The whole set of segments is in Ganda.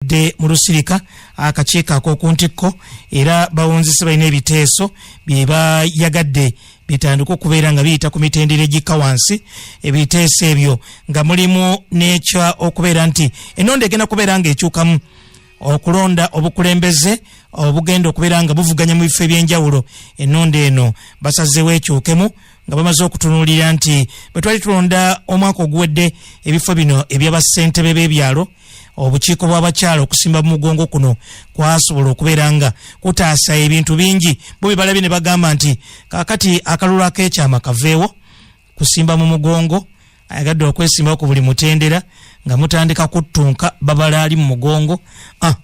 bakedde mu lusirika akakiiko ak'oku ntikko era bawunzise balina ebiteeso bye bayagadde bitandika okubeera nga biyita ku mitendera egikka wansi ebiteeso ebyo nga mulimu n'ekya okubeera nti ennonda egenda kubeera ng'ekyukamu okulonda obukulembeze obugenda okubeera nga buvuganya mu bifo eby'enjawulo ennonda eno basazeewo ekyukemu nga bamaze okutunuulira nti bwe twali tulonda omwaka oguwedde ebifo bino eby'abassentebe b'ebyalo obukiiko bw'abakyala okusimba mu mugongo kuno kwasobola okubeera nga kutaasa ebintu bingi bo bye balabye ne bagamba nti kaakati akalulu ak'ekyama kaveewo kusimba mu mugongo ayagadde okwesimbawo ku buli mutendera nga mutandika kuttunka babala ali mu mugongo ah,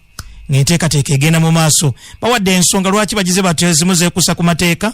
ng'enteekateeka egenda mu maaso bawadde ensonga lwaki bagize batyo ezimu zeekusa ku mateeka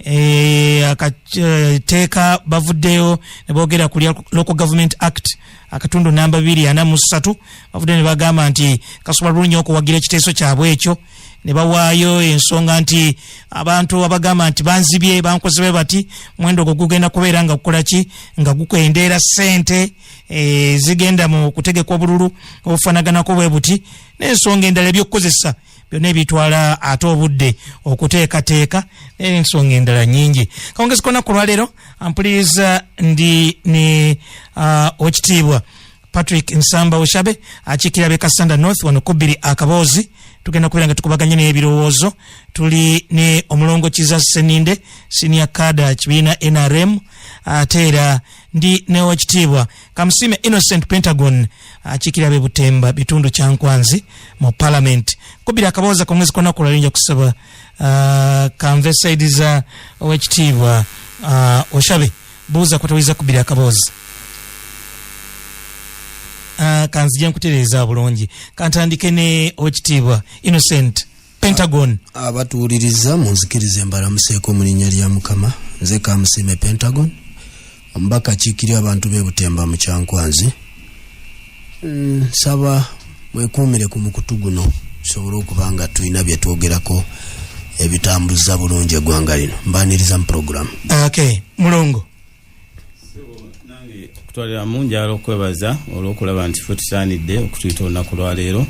Eh, akateeka eh, bavuddeyo ne boogera ku local government act akatundu namba biri ana mu ssatu bavuddeyo ne bagamba nti kasobola bulungi okuwagira ekiteeso kyabwe ekyo ne bawaayo ensonga nti abantu abagamba nti banzibye bankozebe bati mwendo ogwo gugenda kubeera nga gukola ki nga gukwendeera ssente eh, zigenda mu kutegeka obululu obufanaganako bwe buti n'ensonga endala eby'okukozesa byonna ebitwala ate obudde okuteekateeka n'ensonga endala nyingi kawungezi kona ku lwaleero ampuliriza ndi ne uh, okitiibwa patrick nsamba oshabe akiikira be kasanda north wano kubbiri akaboozi tugenda kubeera nga tukubaganye n'ebirowoozo tuli ne omulongo kiza seninde sinia kada kibiina nrm ate era ndi newekitiibwa Kamusime Innocent Pentagon akiikirira be Butemba bitundu kya Nkwanzi mu Parliament kubira akabooza ku mwezi kwona kulali nja kusaba uh, kanve saidi za owekitiibwa uh, Oshabe buuza kwetawuliza kubira akaboozi uh, kanzija nkutereeza bulungi kantandike ne owekitiibwa Innocent pentagon abatuwuliriza munzikirize mbalamuseeko mu linnya lya mukama nze kamusiime pentagon omubaka kiikirira abantu be butemba mu kyankwanzi mm, nsaba mwekuumire ku mukutu guno tusobole okuba nga tulina bye twogerako ebitambuza bulungi eggwanga lino mbaniriza mu pulogulaamu okay mulongo okutwalira mu njala okwebaza olwokulaba nti fe tusaanidde okutuyita olunaku lwaleero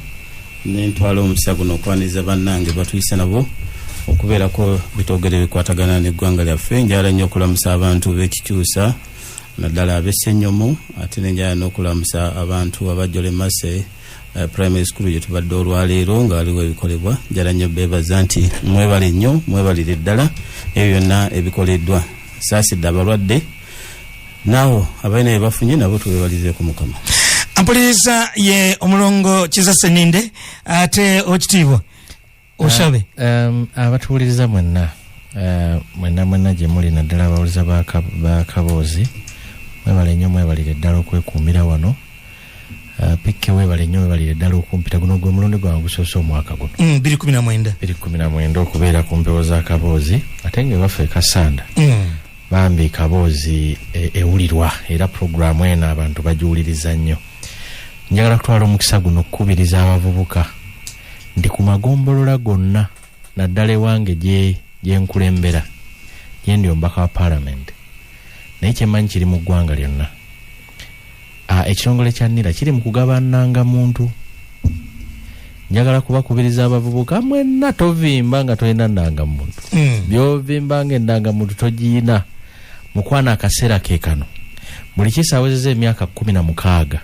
nentwala omukisa guno okwaniriza bannange batuyisa nabo okubeerako bitogere bikwatagana neggwanga lyaffe njala nnyo okulamusa abantu bekikyusa naddala abesenyomo ate nenjala nokulamusa abantu abajjole mase Eh, primary school gyetubadde olwaleero nga waliwo ebikolebwa njala nnyo beebaza nti mwebale nnyo mwebalire ddala ebyo byonna ebikoleddwa saasidde abalwadde naawo abalina bye bafunye nabo tubebalize ku mukama ampuliriza ye omulongo kiza seninde ate okitiibwa osabe um, abatuwuliriza mwenna uh, mwenna mwenna gye muli naddala abawuliza bakaboozi mwebale nnyo mwebalire ddala okwekuumira wano uh, pikke webale nnyo webalire ddala okumpita guno gwe mulundi gwange gusoose omwaka guno mm, biri kumi na mwenda biri kumi na mwenda okubeera ku mpewo za kaboozi ate nga ewaffe ekasanda mm. bambi kaboozi e, ewulirwa era puroguramu eno abantu bagiwuliriza nnyo njagala kutwala omukisa guno okukubiriza abavubuka nti ku magombolola gonna naddala ewange gye nkulembera gye ndi omubaka wa palamenti naye kyemanyi kiri mu ggwanga lyonna ah, ekitongole kya nira kiri mu kugabananga muntu njagala kubakubiriza abavubuka mwenna tovimba nga tolina ndangamuntu hmm. byovimba nga endangamuntu togiyina mukwana akaseera ke kano buli kisawezeza emyaka kumi na mukaaga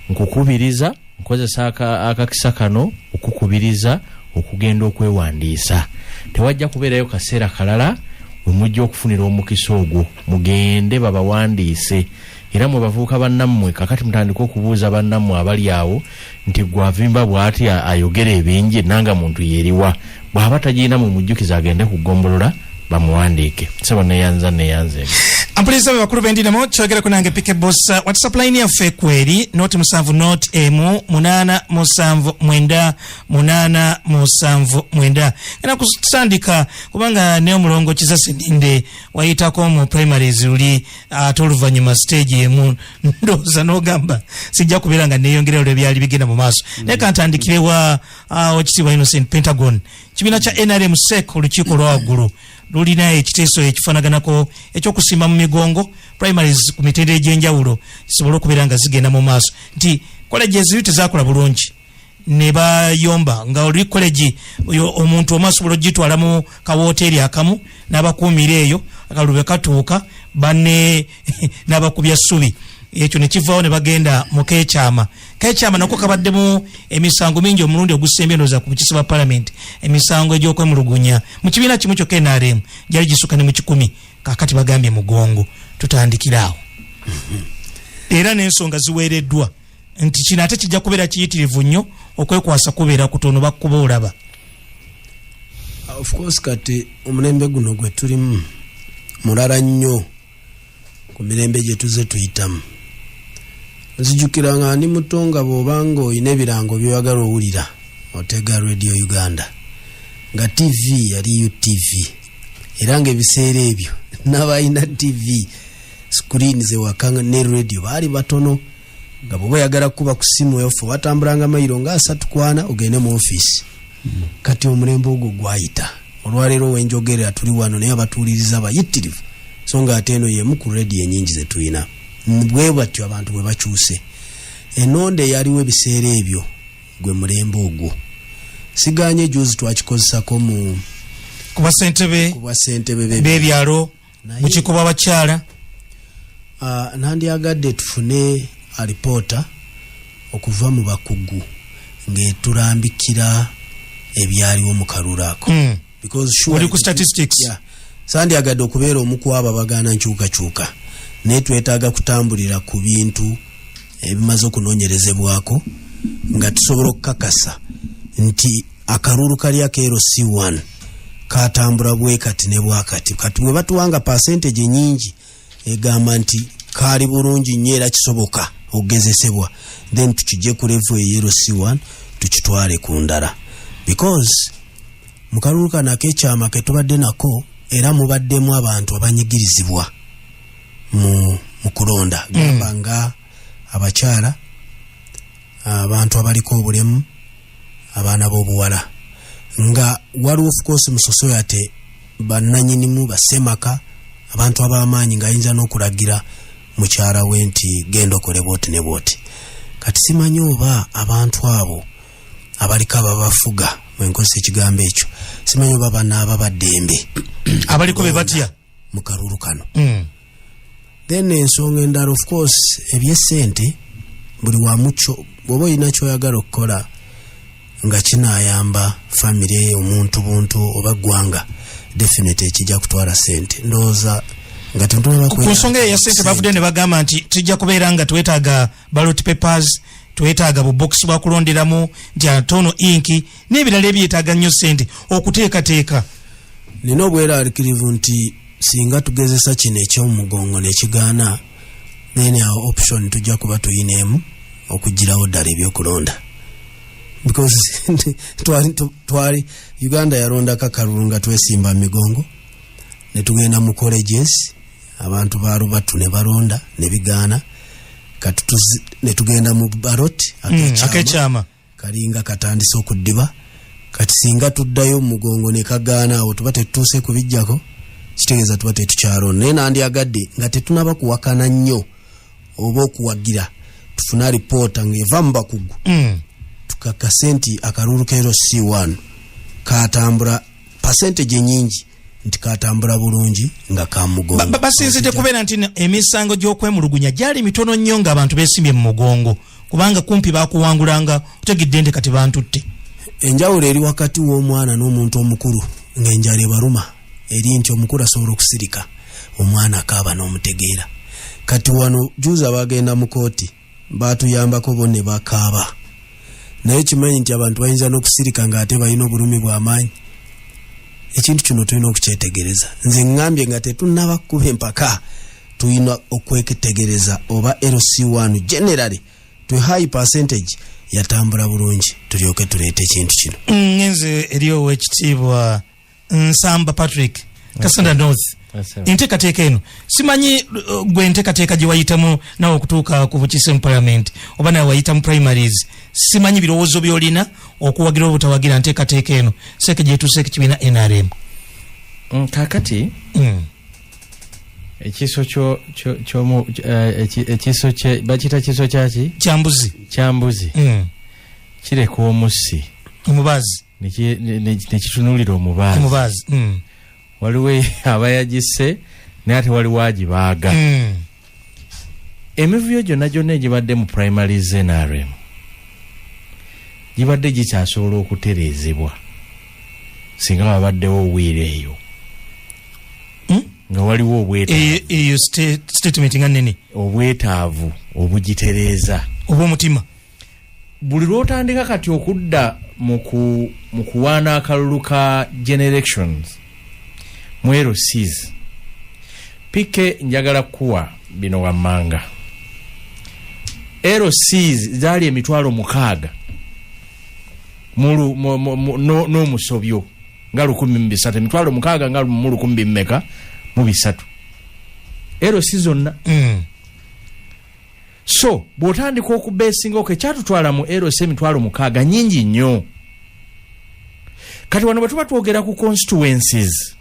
nkukubiriza nkozesa akakisa kano okukubiriza okugenda okwewandiisa tewajja kubeerayo kaseera kalala wemujja okufunira omukisa ogwo mugende babawandiise era mwe bavuuka bannammwe kakati mutandike okubuuza bannammwe abali awo nti gwavimba bwati ayogera ebingi nanga muntu yeriwa bwaba tagirina mu mujjukiza agende ku gombolola bamuwandiike sebo neyanza neyanza eno ampuliza be bakulu bendinamo kyogerako nange pike bos uh, whatsapp line yaffe kweri noti musanvu not emu munana musanvu mwenda munana musanvu mwenda ena kutandika kubanga ne omulongo kiza sininde wayitako mu primaries uli ate uh, oluvanyuma stage emu ndoza nogamba sijja kubeera nga neyongera olwebyali bigenda mu maaso mm. naye kantandikirewa ah, wakitiibwa innocent pentagon kibiina kya nrm sec olukiiko olwawaggulu lulina ekiteeso ekifanaganako ekyokusimba mu migongo primaries ku mitendera egyenjawulo kisobole okubeera nga zigenda mu maaso nti koleji eziri tezakola bulungi nebayomba nga oli koleji omuntu omu asobola okugitwala mu kawoteeri akamu n'abakuumira eyo akalulu bwe katuuka bane nabakubya subi ekyo nekivawo nebagenda mukekyama kekyama nako kabaddemu emisango mingi omulundi ogusembye noza ku bukisi bwa palamenti emisango egyokwemulugunya mu kibiina kimu kyokka nrm gyali gisuka ne mu kikumi kakati bagambye mugongo tutandikiraawo era nensonga ziweereddwa nti kino ate kijja kubeera kiyitirivu nnyo okwekwasa kubeera kutono bakuba olaba ofcourse kati omulembe guno gwe tulimu mulala nnyo ku mirembe gye tuze tuyitamu nzijukira nga ndi muto nga bwobanga olina ebirango byewagala owulira otega radio uganda nga tv yali utv era nga ebiseera ebyo nabalina tv screen zewaka ne radio baali batono nga bwoba oyagala kukuba ku simu eyofe watambulanga mayiro nga asatu kwana ogende mu ofiisi kati omulembe ogwo gwayita olwaleero wenjogerera tuli wano naye abatuuliriza bayitirivu so nga ate eno yemu ku rediyo enyingi zetulina bwe batyo abantu bwe bakyuse enonda eyaliwo ebiseera ebyo gwe mulembe ogwo siganye juzi twakikozesako mu kubasentebe bebyalo bukiko bwabakyala uh, nandyagadde tufune alipoota okuva mu bakugu ngetulambikira ebyaliwo mu kalulu ako mm. oli ku statistics yeah. sandyagadde okubeera omukwabo abagaana nkyukakyuka naye twetaaga kutambulira ku bintu ebimaze okunonyerezebwako nga tusobola okukakasa nti akalulu kali akeero c 1 katambula bwe kati ne bwakati kati bwe batuwanga percentage nyingi egamba nti kaali bulungi nnyo era kisoboka okugezesebwa then tukijje ku levu eyero c 1 tukitwale ku ndala because mu kalulu kano akekyama ke tubadde nako era mubaddemu abantu abanyigirizibwa mu kulonda mm. gamba nga abakyala abantu abaliko obulemu abaana b'obuwala nga waliwo ofukoosi mu sosoyate bannanyinimu basemaka abantu ab'amaanyi ng'ayinza n'okulagira mukyala we nti genda okole bwoti ne bwoti kati simanyi oba abantu abo abaliko ababafuga mwenkozesa ekigambo ekyo simanyi oba banaaba baddembe abaliko be batya mu kalulu kano mm. then ensonga endala of course ebyesente buli wamuco bwoba olina kyoyagala okukola nga kinayamba famiry omuntu buntu oba gwanga definite ekijja kutwala sente ndowooza nga tunsonga eyo yasente bavudde ne bagamba nti tujja kubeera nga twetaaga balot papers twetaaga bubox bwakulonderamu nti atono inki n'ebirala ebyetaaga nnyo ssente okuteekateeka nina obwerarikirivu nti singa tugezesa kino ekyomugongo nekigaana then our option tujja kuba tuyina emu okugirawo ddala ebyokulonda because twali twali uganda yalonda kakalulu nga twesimba migongo netugenda mu colleges abantu balubatu ne balonda ne bigaana kati netugenda mu barot akekyama mm, kalinga katandise okuddiba kati singa tuddayo omugongo ne kagaana awo tuba tetutuuse kubijjako kitegeeza tuba tetukyalon naye nandyagadde nga tetunaba kuwakana nnyo oba okuwagira tufune alipoota ngaeva mu bakugu mm. tukakase nti akalulu keero c1 katambula pasentage nyingi nti katambula bulungi nga kamugongo basinzidde kubeera nti emisango gyokwemulugunya gyali mitono nnyo nga abantu besimbye mu mugongo kubanga kumpi bakuwangulanga otegedde nti kati bantutte enjawulo eri wakati w'omwana n'omuntu omukulu ng'enjala ebaruma eri nti omukulu asobola okusirika omwana akaaba n'omutegeera kati wano juza bagenda mu kooti baatuyambako bo ne bakaaba naye kimanyi nti abantu bayinza n'okusirika ng'ate balina obulumi bw'amaanyi ekintu kino tulina okukyetegereza nze ŋŋambye nga tetunnaba kukuba empaka tulina okweketegereza oba lc1 generally to high percentage yatambula bulungi tulyoke tuleeta ekintu kino mm, nze eri owekitiibwa nsamba patrick kasanda okay. north enteekateeka eno simanyi uh, gwe enteekateeka gye wayitamu nawe okutuuka ku bukiise mu palamenti oba nawe wayita mu primaries simanyi birowoozo byolina okuwagira obutawagira nteekateeka eno seeke gyetuuseeko kibiina nrm mm, kakati mm. ekiso ekiso eh, bakita kiso kyaki kyambuzi kyambuzi mm. kireka omusi omubazi nekitunulira omubaazi omubaazi mm. waliwo e- abayagise naye ate waliwo agibaaga mm. emivuyo gyonna gyonna egibadde mu primary znrm gibadde gikyasobola okutereezebwa singa wabaddewo owiira eyo hmm? nga waliwo obwetaavu obwetaavu obugitereeza obwomutima buli lwotandika kati okudda mu kuwaana akalulu ka generations mwero seas pike njagala kuwa bino wammanga ero seas zaali emitwalo mukaaga n'omusobyo nga lukumi mubisatu emitwalo mukaaga nga mu lukumi bimeka mu bisatu ero si zonna mm. so bw'otandika okubeesinga oko ekyatutwala mu eros emitwalo mukaaga nyingi nnyo kati wano bwe tuba twogera ku constituencies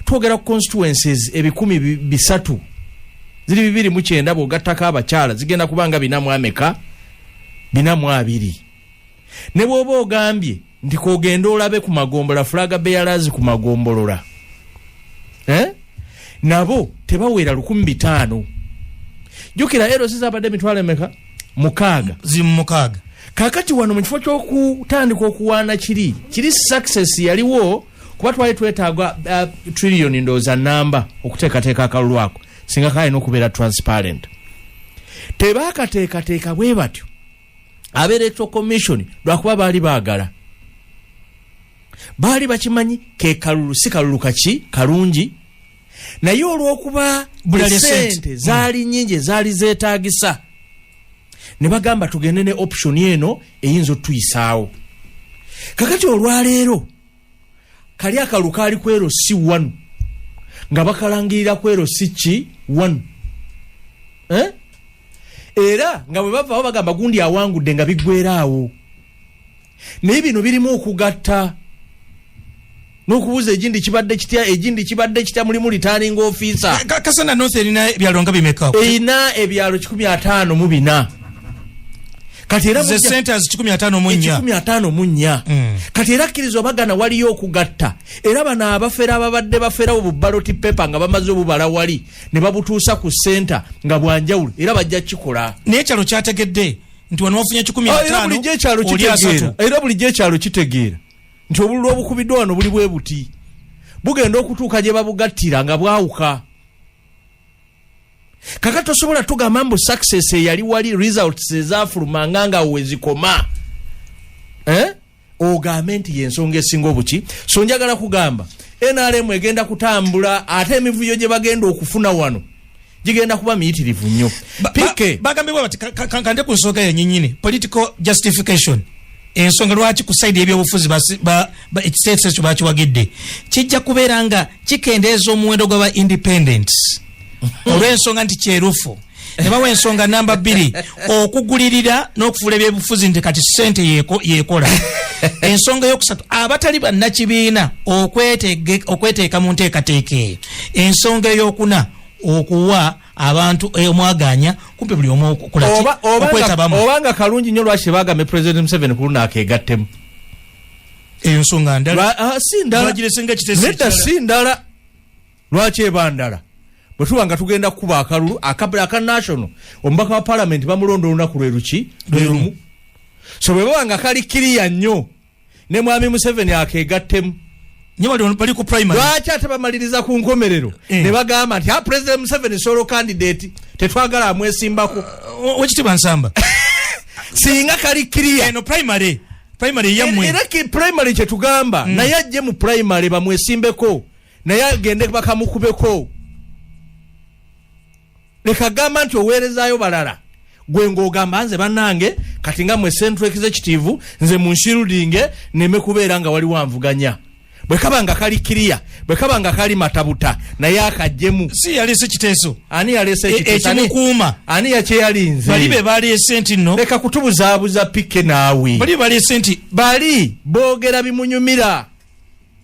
twogera ku constituencies ebikumi bisatu ziri bibiri mu kyenda bw'ogattako abakyala zigenda kuba nga binamu ameka binamu abiri ne bw'oba ogambye nti kogende olabe ku magombola fulaga beyalazi ku magombolola eh? nabo tebawera lukumi bitaano jukira erosi zabadde emitwalo emeka mukaaga zimukaaga kakati wano mu kifo ky'okutandika okuwaana kiri kiri success yaliwo kuba twali twetaaga uh, trillion ndooza namba okuteekateeka akalulu ako singa kalina okubeera transparent tebaakateekateeka bwe batyo aba electoral commission lwakuba baali baagala baali bakimanyi ke kalulu si kalulu kaki kalungi naye olwokuba sente mm. zaali nyingi ezaali zeetagisa ne bagamba tugende ne option eno eyinza otuyisaawo kakati olwaleero kali akalu kaali kwero si wanu nga bakalangirira kwero si ki wanu eh? era nga bwe bavaawo bagamba gundi awangudde nga biggweraawo naye bino birimu okugatta nokubuza egindi kibadde kitya egindi kibadde kitya mulimu returning officer eh, kasana north erina ebyalo nga bimeka erina ebyalo kikumi ataano mu bina kati era ze sente az 15 mu nya 15 mu nya mm. kati era kirizo bagana wali yo kugatta era bana abafera ababadde bafera obu ballot paper nga bamaze obu bala wali ne babutusa ku center nga bwanjawulo era bajja kikola ne chalo chategedde nti wano wafunye 15 ah, era buli je chalo kitegeera era buli je chalo kitegeera nti obululu obukubidwa wano buli bwebuti bugenda okutuuka gye babugattira nga bwawuka kaka tosobola tugamba mbu success eyali wali results ezafuluma nga nga wezikoma eh? ogambe nti yensonga esinga obuki so njagala kugamba nrm egenda kutambula ate emivuyo gye bagenda okufuna wano gigenda kuba miyitirivu nnyo pike bagambibwa bati kande ku nsonga yenyinyini political justification ensonga lwaki ku saidi yebyobufuzi ekiteeso ekyo bakiwagidde kijja kubeera nga kikendeeza omuwendo gwaba independent olw'ensonga nti kyerufu nebawa ensonga namba bbiri okugulirira n'okufuula ebyobufuzi nti kati sente yekola ensonga eyokusatu abatali bannakibiina okweteeka mu nteekateeka eyo ensonga eyokuna okuwa abantu eh, omwaganya kumpe buli omu okwetabamu obanga kalungi nyo lwaki bagame president museveni kuluna akegattemu eyo nsonga ndala ah, si ndala nedda si ndala lwaki eba ndala bwe tuba nga tugenda kukuba akalulu aka national omubaka wa palamenti bamulonda olunaku lwe luki lwerumu so bwe baba nga kali kiriya nnyo ne mwami museveni akegattemu lwaki ate bamaliriza ku nkomerero eh. ne bagamba nti ah, president museveni solo candidate tetwagala amwesimbako uh, wekitibwa nsamba singa kali kiriya eno primary primary yamwe era ki primary kye tugamba mm. naye ajje mu primary bamwesimbeko naye agende bakamukubeko leka gamba nti oweerezaayo balala gwe ng'ogamba nze bannange kati nga mwe central executive nze munshirudinge neme kubeera nga waliwo anvuganya bwe kaba nga kali kiriya bwe kaba nga kali matabuta naye akajjemu si yaleese kiteeso ani yaleese e, ekiteesoekimukuuma ani yakyeyalinze bali be baleese nti no leka kutubuzaabuza pike naawe bali baleese nti bali boogera bimunyumira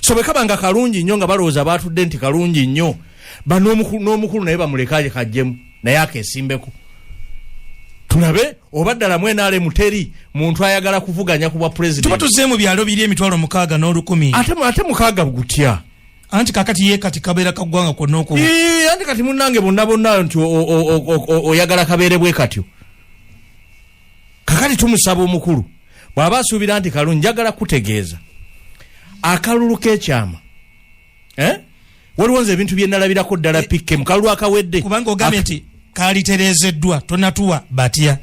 so bwe kaba nga kalungi nnyo nga balowooza baatudde nti kalungi nnyo ban'omukulu naye bamulekaye kajjemu naye akesimbeko tulabe oba ddala mwenaale muteri muntu ayagala kuvuganya ku bwa pulezidenttuba tuzze mu byalo biri emitwalo mukaaga n'olukumi ate mukaaga gutya anti kakati ye kati kabeera kaggwanga kwonna oku anti kati munnange bonna bonna nti oyagala kabeere bwe katyo kakati tumusaba omukulu bw'aba asuubira nti kalungi njagala kutegeeza akalulu k'ekyama eh? waliwo nze ebintu bye nalabirako ddala eh, pikke mu kalulu akawedde kubanga ogambye nti kalitereezeddwa tonatuwa batya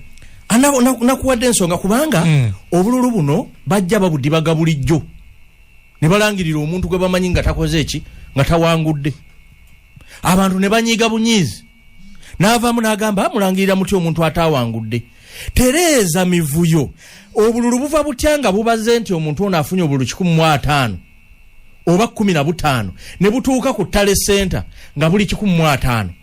ah, nakuwadde ensonga kubanga hmm. obululu buno bajja babudibaga bulijjo ne balangirira omuntu gwe bamanyi nga takoze eki nga tawangudde abantu ne banyiiga bunyiizi n'avaamu n'agamba ah, mulangirira muti omuntu ataawangudde tereeza mivuyo obululu buva butya nga bubaze nti omuntu ono afunye obululu kikumi mu ataano oba kumi na butaano ne butuuka ku tale senta nga buli kikumi mu ataano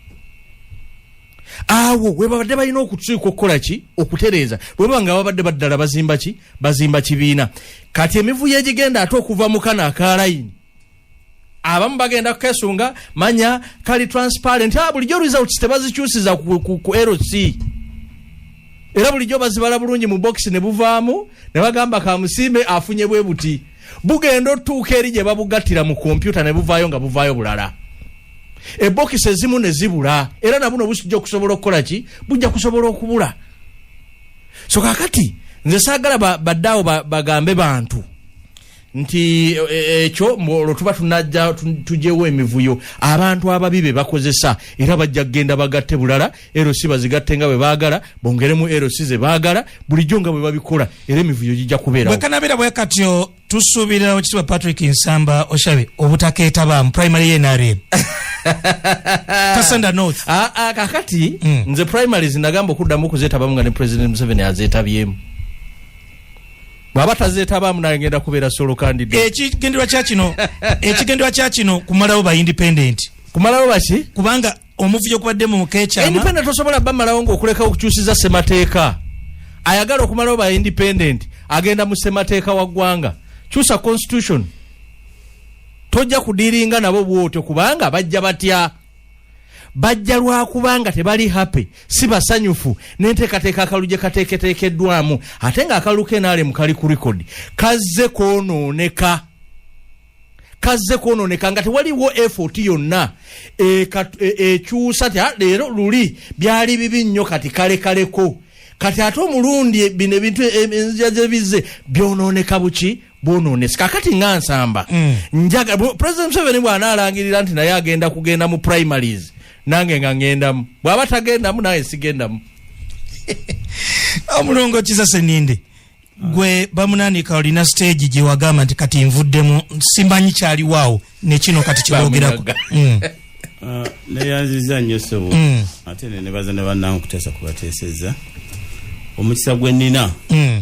awo webabadde balina okutuuka okukola ki okutereeza bwebaba nga babadde baddala bazimba ki bazimba kibiina kati emivuyo egigenda ate okuva mu kano akalayini abamu bagenda kukesunga manya kali transparent ah, bulijjo results tebazikyusiza ku, ku, ku lc era bulijjo bazibala bulungi mu bokisi ne buvaamu ne bagamba kamusimbe afunye bwe buti bugenda otuuka eri gye babugattira mu kompyuta ne buvaayo nga buvaayo bulala ebokisi ezimu ne zibula era nabuno busijja okusobola okukola ki bujja kusobola okubula so kakati nze saagala baddeawo ba, ba, bagambe bantu nti e, e, ekyo olwo tuba tunajja tujewo emivuyo abantu ababi be bakozesa era bajja kugenda bagatte bulala erosi bazigatte nga bwe baagala bongeremu erosi ze baagala bulijjo nga bwe babikola era emivuyo gijja kubeerawekanabera bwe katyo tusuubira okitibwa patrick nsamba oshabe obutakeetaba mu primary yenarem kasanda north ah, ah, kakati mm. nze primaries nagamba okuddamu okuzetabamu nga ne president museveni azetabyemu bwaba tazetabaamu nagenda kubeera solo kandida ekigenderwa kya kino ekigenderwa kya kino kumalawo ba independent kumalawo baki kubanga omuvuyo kubadde mu mukekyama independent tosobola bamalawo ngaokuleka okukyusiza semateeka ayagala okumalawo ba independent agenda mu semateeka wa ggwanga kyusa constitution tojja kudiringa nabo bwotyo kubanga bajja batya bajja lwakubanga tebali happy si basanyufu nenteekateeka akalulu gye kateeketeekeddwamu ate nga akalulu kenalemu kali ku rekodi kazze kwonooneka kazze kwonooneka nga tewaliwo effort yonna e, e, ekyusa ti ah, leero luli byali bibi nnyo kati kalekaleko kati ate omulundi bino ebintu e, enzija zebizze byonooneka buki bwononese kakati nga nsamba mm. njaga president museveni bwanaalangirira nti naye agenda kugenda mu primaries nange nga ngendamu bwaba tagendamu naye sigendamu omulongo kiza seninde gwe bamunanika olina stage gyewagamba nti kati nvuddemu simbanyi kyaliwaawo nekino kati kyogerako mm. uh, neyanziza nnyo sebo mm. ate nenebaza ne bannange okuteesa kubateeseza omukisa gwe nina mm.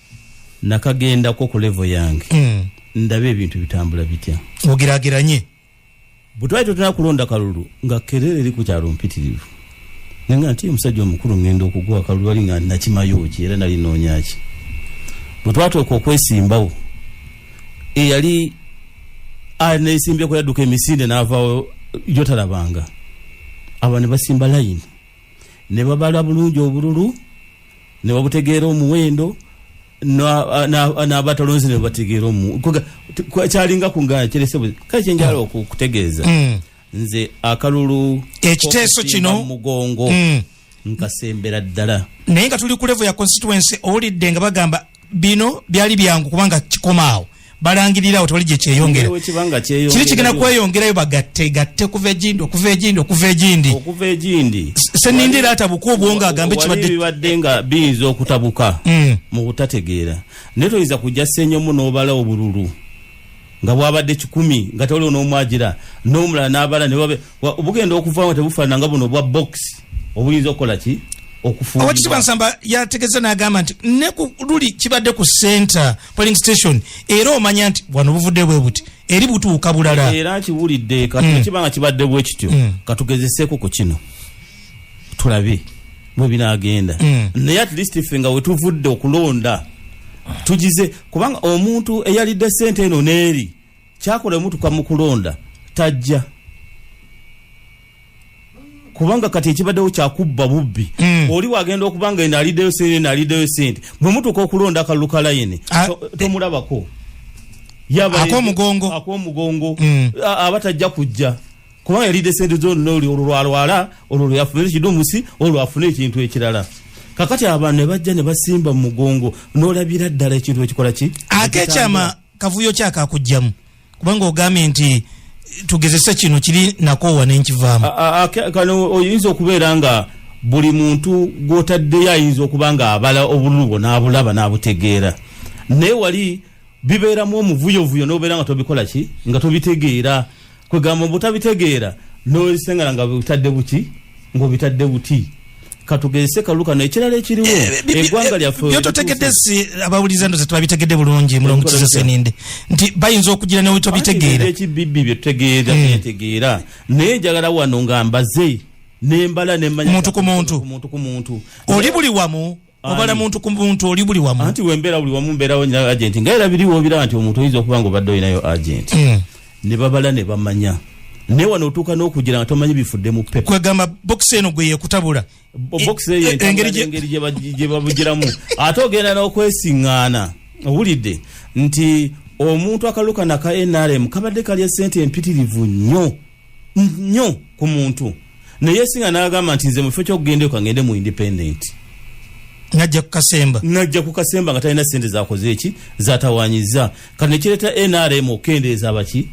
nakagendako ku levo yange mm. ndabe ebintu bitambula bitya ogerageranye bwetwali totera kulonda kalulu nga kerere eri ku kyalo mpitirivu naye nga nti omusajja omukulu ngenda okugwa akalulu ali nga nakimayo ki era nali noonya ki bwe twatuuka okwesimbawo eyali neesimbyeku yadduka emisinde n'avaawo jotalabanga aba ne basimba layini ne babala bulungi obululu ne babutegeera omuwendo n'abatalonzi ne bategeera omu kyalinga ku nga kirese kale kyenjala hmm. okutegeeza hmm. nze akalulu ekiteeso kino mugongo hmm. nkasembera ddala naye nga tuli ku levo ya constituency owulidde nga bagamba bino byali byangu kubanga kikomaawo balangirira awo tewali gye kyeyongera kiri kigenda kweyongerayo bagatte gatte kuva egindi okuva egindi okuva egindi okuva egindi senindira atabuka obwongo agambe kibadde nga biyinza okutabuka mm. mu butategeera naye toyinza kujja senyomu n'obala obululu nga bwabadde kikumi nga tewaliwo n'omwagira n'omulala n'abala ne babe bugenda okuvaamu nga tebufaanana nga buno obwa box obuyinza okukola ki okufungibwa nsamba yategeza n'agamba nti ne ku luli kibadde ku center polling station era omanya nti wano buvudde bwe buti eri butuuka bulala era kiwulidde kati mm. kiba nga kibadde bwe kityo mm. katugezeseeko ku kino tulabe bwe binaagenda mm. naye at least ffe nga wetuvudde okulonda tugize kubanga omuntu eyalidde sente eno n'eri kyakola emutuka mu kulonda tajja kubanga kati ekibaddewo kyakubba bubbi mm. oli wagenda okuba nga eno aliddeyo sente eno aliddeyo sente bwe mutuuka okulonda akalulu ka layini ah, tomulabako akomugongo akomugongo mm. aba tajja kujja kubanga yalidde sente zonna oli olwo lwalwala olwo lweyafuna ekidumusi olwo lwafuna ekintu ekirala kakati abantu ne bajja ne basimba mu mugongo n'olabira ddala ekintu ekikola ki ate ekyama kavuyo ki akakujjamu kubanga ogambye nti tugezese kino kiri nakoowa nenkivaamu kano oyinza okubeera nga buli muntu gwotaddeyo ayinza okuba nga abala obululu bwo n'abulaba n'abutegeera naye wali bibeeramu omuvuyovuyo n'obeera nga tobikola ki nga tobitegeera kwegamba obutabitegeera nolisengana nga butadde buki ngaobitadde buti katugezese kalulu kano ekirala ekiriwo eh, eh, eggwanga lyafebyototegedde eh, si abawuliza ndoza tebabitegedde bulungi mulongo kizeseninde nti bayinza okugira newe tobitegeera ekibibbi byetutegeera byetegeera hmm. naye njagala wano nga mbaze nembala nemanya muntu ku muntu oli buli wamu obala muntu ku muntu oli buli wamu anti wembera buli wamu mberawo nyina agenti nga era biriwo obiraba nti omuntu oyinza okuba nga obadde olinayo agenti mm. ne babala ne bamanya naye wano otuuka n'okugira nga tomanyi bifudde mu pepa kwegamba bokisi eno gwe yekutabula bokisi eyo e, engeri gye babugiramu ate ogenda n'okwesiŋŋaana owulidde nti omuntu akalukana ka nrm kabadde kalya ssente empitirivu nnyo nnyo ku muntu naye singa nagamba nti nze mukifo kyokugenda eko ngende mu independent najja kukasemba najja kukasemba nga talina sente zakoze eki zatawanyiza kati nekireta nrm okukendeeza baki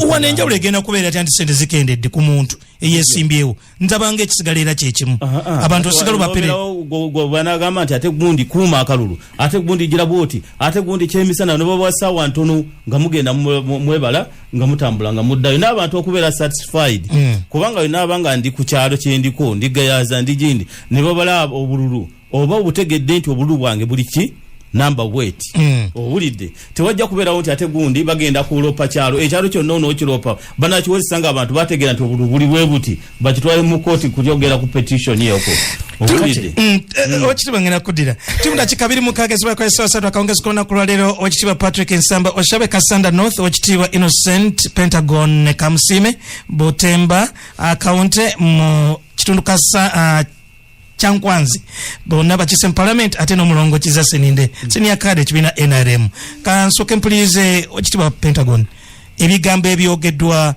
wana enjawulo egenda kubeera ti anti sente zikendedde ku muntu eyesimbyewo nzabanga ekisigala era kyekimu abantu osigala baperebanagamba nti ate gundi kuuma akalulu ate gundi gira bwoti ate gundi kyemisana nobawa sawa ntono nga mugenda mwebala nga mutambula nga muddayo n'abantu okubeera satisfied mm. kubanga yonabanga ndi ku kyalo kyendiko ndigayaza ndi gindi ne babala obululu oba obutegedde nti obululu bwange buli ki namba wet mm. owulidde tewajja kubeerawo nti ate gundi bagenda kuloopa kyalo ekyalo kyonna onookiroopa banakiwozesa nga abantu bategeera nti obulu buli bwe buti bakitwale mu kooti kulyogera ku petition yoko owulidde mm, eh, mm. okitiba ngenda kuddira timu dakika biri mukaaga ezibakoesewasatu akawungezi kulona ku lwaleero okitiibwa patrick nsamba oshabe kasanda north okitiibwa innocent pentagon ne kamusiime butemba akaunte mu kitundu kasa uh, kyankwanzi bonna bakise mu palamenti ate n'omulongo kiza seninde mm. senior card ekibiina nrm kansooke mpuliirize okitibwa pentagon ebigambo ebyogeddwa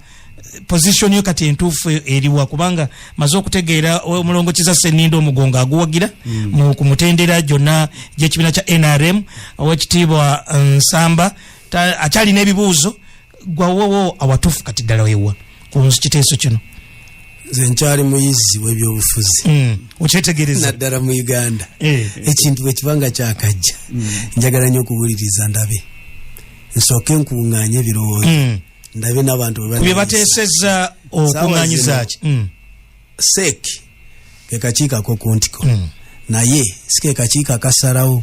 position yo kati entuufu eriwa kubanga maze okutegeera omulongo kiza seninde omugongo aguwagira mm. mu ku mutendera gyonna gy'ekibiina kya nrm owekitiibwa nsamba akyalina ebibuuzo gwawowo awatufu kati ddala wewa kunzu kiteeso kino nze nkyali muyizi webyobufuzi mm. okyetegereza naddala mu uganda eh, eh. ekintu bwekibanga kyakajja mm. njagala nyo okuwuliriza ndabe nsooke nkuŋŋaanye ebirowoozo mm. ndabe n'abantu bwebateseza okuŋŋaanyizaki mm. seeki kekakiiko akokuntiko mm. naye si kekakiiko akasalawo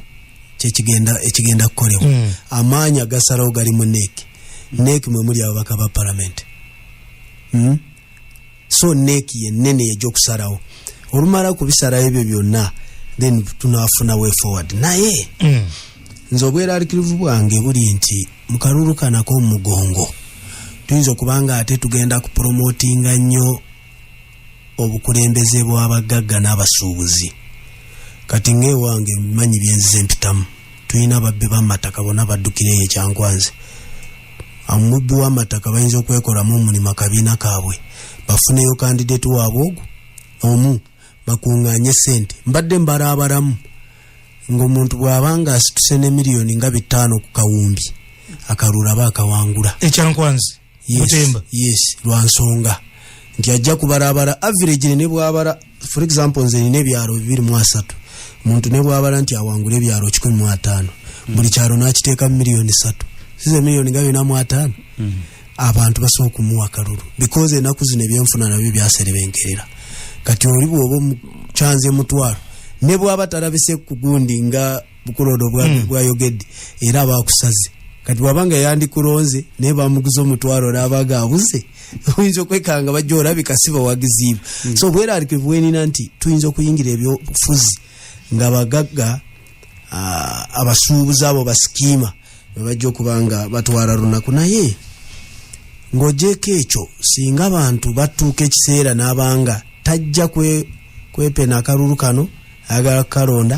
kyekigenda ekigenda kukolebwa mm. amaanyi agasalawo gali mu nek nek mwe muli ababaka ba palamenti mm? so nek yenene egyokusalawo olumala kubisalawo ebyo byonna then tunafuna way forward naye mm. nze obweralikirivu bwange buli nti mukalulu kanako omugongo tuyinza okubanga ate tugenda kupromotinga nnyo obukulembeze bw'abagagga n'abasuubuzi kati ng'ewange manyi byenzize mpitamu tulina babbi b'amataka bona baddukira eyo ekyankwanze omubbi w'amataka bayinza okwekolamu omulimu akabiina kaabwe bafuneyo kandideti waabwe ogwo omu bakuŋŋaanye ssente mbadde mbala abalamu ng'omuntu bw'aba nga asituse ne miliyoni nga bitaano ku kawumbi akalulaba akawangula ekyankwanzi mutemba yes lwansonga nti ajja kubarabara average ne bwabara for example nze nina ebyalo bibiri mu asatu muntu ne bwabala nti awangula ebyalo kikumi mu ataano mm. buli kyalo n'akiteeka mu miliyoni satu size miliyoni nga bina mu ataano mm. abantu basobola okumuwa kalulu because enaku zino ebyenfuna nabyo byaserebenkerera kati oli bwoba kyanze mutwalo ne bwaba talabise kugundi nga bukuloodo hmm. bwayogedde era abakusaze kati wabanga yandikulonze naye bamuguza omutwalo nabaga abuze oyinza okwekanga bajja olabika si bawagiziibwe hmm. so bweralike bwenina nti tuyinza okuyingira ebyobufuzi nga bagagga ah, abasuubuzi abo basikiima bebajja okuba nga batwala lunaku naye ng'ogyeko ekyo singa abantu batuuka ekiseera n'abanga tajja kwepena akalulu kano ayagala kukalonda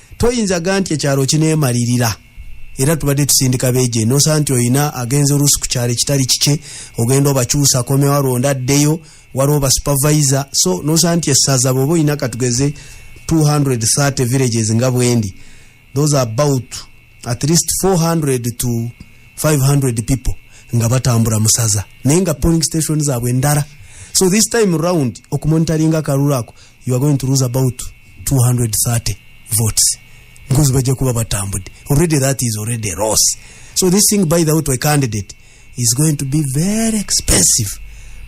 toyinza ga nti ekyalo kineemalirira era tubadde tusindika beje nosaa nti olina agenza oluusi ku kyalo ekitali kikye ogenda obakyusa akomewo alonda addeyo waliwo basupervisor so nosaa nti essaza bweoba olina katugeze 230 villages nga bwendi those are about at least 400 to 500 people nga batambula musaza naye nga polling station zaabwe ndala so this time round okumonitaringa akalulu ako you are going to lose about 230 votes because bajja kuba batambudde already that is already loss so this thing by the way to a candidate is going to be very expensive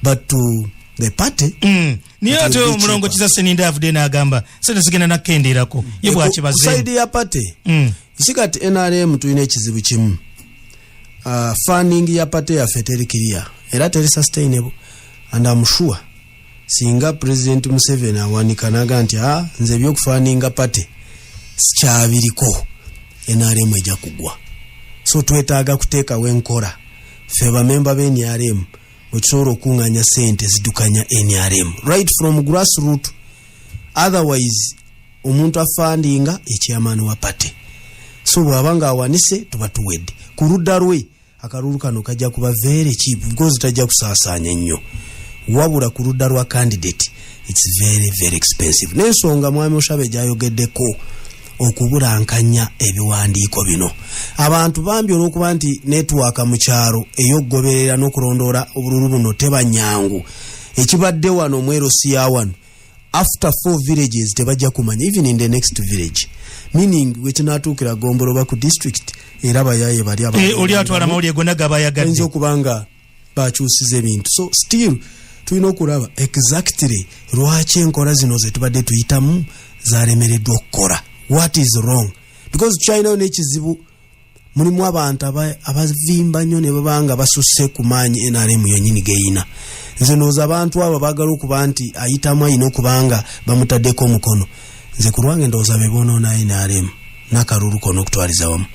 but to the party mm. niye ate omulongo kiza seninda avude nagamba sente zigenda nakendeerako ye bwakibazesaidi ya party mm. isi kati nrm tulina ekizibu kimu uh, funding ya party yaffe teri kiria era teri sustainable and am sure singa president museveni awanika naga nti a ah, nze ebyokufaninga pate sikyabiriko nrm eja kugwa so twetaaga kuteekawo enkora fe bamemba be nrm wetusobola okukunganya sente zidukanya nrm right from grass root otherwise omuntu afandinga ekyamani wa pate so bwaba nga awanise tuba tuwedde ku ludda lwe akalulu kano kajja kuba very cheap because tajja kusaasaanya nnyo wabula ku ludda lwa candidate its very very expensive n'ensonga mwami oshabe gyayogeddeko okubulankanya ebiwandiiko bino abantu bambi olwokuba nti netwaka mu kyalo ey'okugoberera n'okulondoola obululu buno tebanyangu ekibadde wano omwerosi ya wano after four villages tebajja kumanya even in the next village meaning wekinatuukira gombolo ba ku district era bayaye bali eh, oli atwala mawulire gona gabayagadde okuba nga bakyusiza ebintu so still tulina okulaba exactly lwaki enkola zino zetubadde tuyitamu zalemereddwa okukola what is wrong because chinayo nekizibu mulimu abantu abavimba nnyo ne baba nga basusse ku maanyi nrm yonyini geyina nze nooza abantu abo bagala okuba nti ayitamu ayina okuba nga bamutaddeko omukono nze ku lwange ndowooza be bonoona nrm nakalulu kona okutwaliza wamu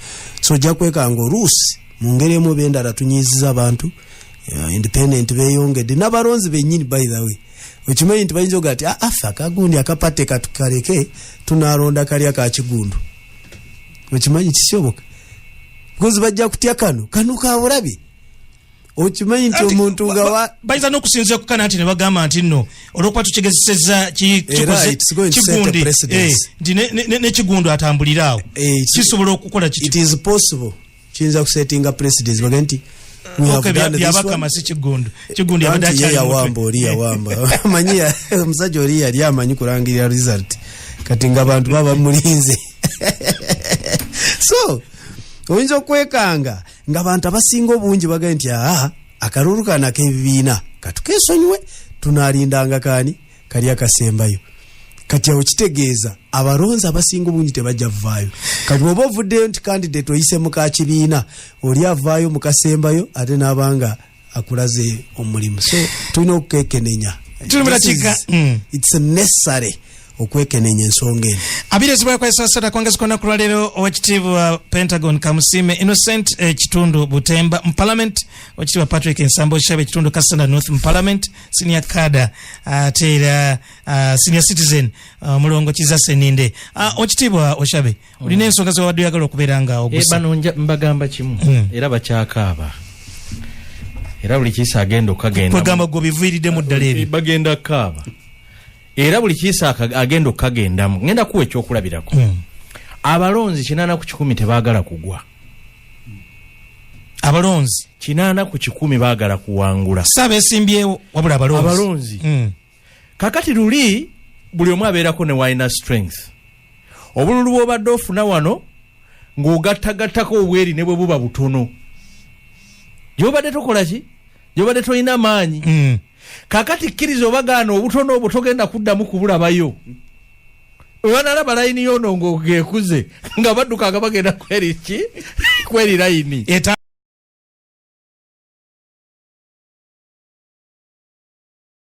so ojja kwekanga oluusi mu ngeri emu oba endala tunyiiziza abantu uh, independent beyongedde n'abalonzi bennyini by the way okimanyi nti bayinza oga ti ah, afe akagundi akapate katukaleke tunalonda kalya kakigundu okimanyi kisoboka because bajja kutya kano kano kabulabi okimanyi nti omuntu nga bayinza n'okusinzira kukana nti ne bagamba nti nno olwokuba tukigezeseza kigundi eh, nti nekigundi atambulire awo eh, kisobola okukola kitipossible kiyinza kusetinga presidents baga nti yabakama si kigundi kigundi yabadeyawamba oli yawamba manyi omusajja oli yali amanyi kulangirira result kati nga abantu baba mulinze so oyinza okwekanga nga abantu abasinga obungi bagae nti aa akalulu kano akebibiina katukesonyiwe tunalindanga kani kali akasembayo kati awo kitegeeza abalonzi abasinga obungi tebajja vaayo kati oba ovuddeyo nti kandidate oyise mukakibiina oli avaayo mukasembayo ate nabanga akulaze omulimu so tulina okukekenenya mm. it's necessary okwekenenya ensonga eno abiri ezibwakwesasata kwongezi kwona kulwaliro owekitiibwa pentagon kamusime innocent eh, kitundu butemba mu parliament owekitiibwa patrick nsambo shabe kitundu kasanda north mu parliament senior kada ate uh, era uh, senior citizen uh, mulongo kiza seninde uh, ah, owekitiibwa oshabe olina ensonga zewabadde oyagala okubeera nga ogusabano eh, mbagamba kimu hmm. era bakyakaaba era buli kiisa agenda okukagenda gwe biviiriddemu ddala ebyo bagenda kaaba era buli kiisa agenda okukagendamu ngenda kuwa ekyokulabirako hmm. abalonzi kinaana ku kikumi tebaagala kugwa abalonzi kinaana ku kikumi baagala kuwangula saabesimbyewo wabula abalonzi hmm. kakati luli buli omu abeerako ne walina strength obululu bwobadde ofuna wano ng'ogattagattako obweri ne bwe buba butono gyobadde tokola ki gyobadde tolina maanyi mm. kakati kkiriza obagaana obutono obwo togenda kuddamu kubulabayo webanalaba layini yono ng'ogekuze nga badduka nga bagenda kweri ki kweri layini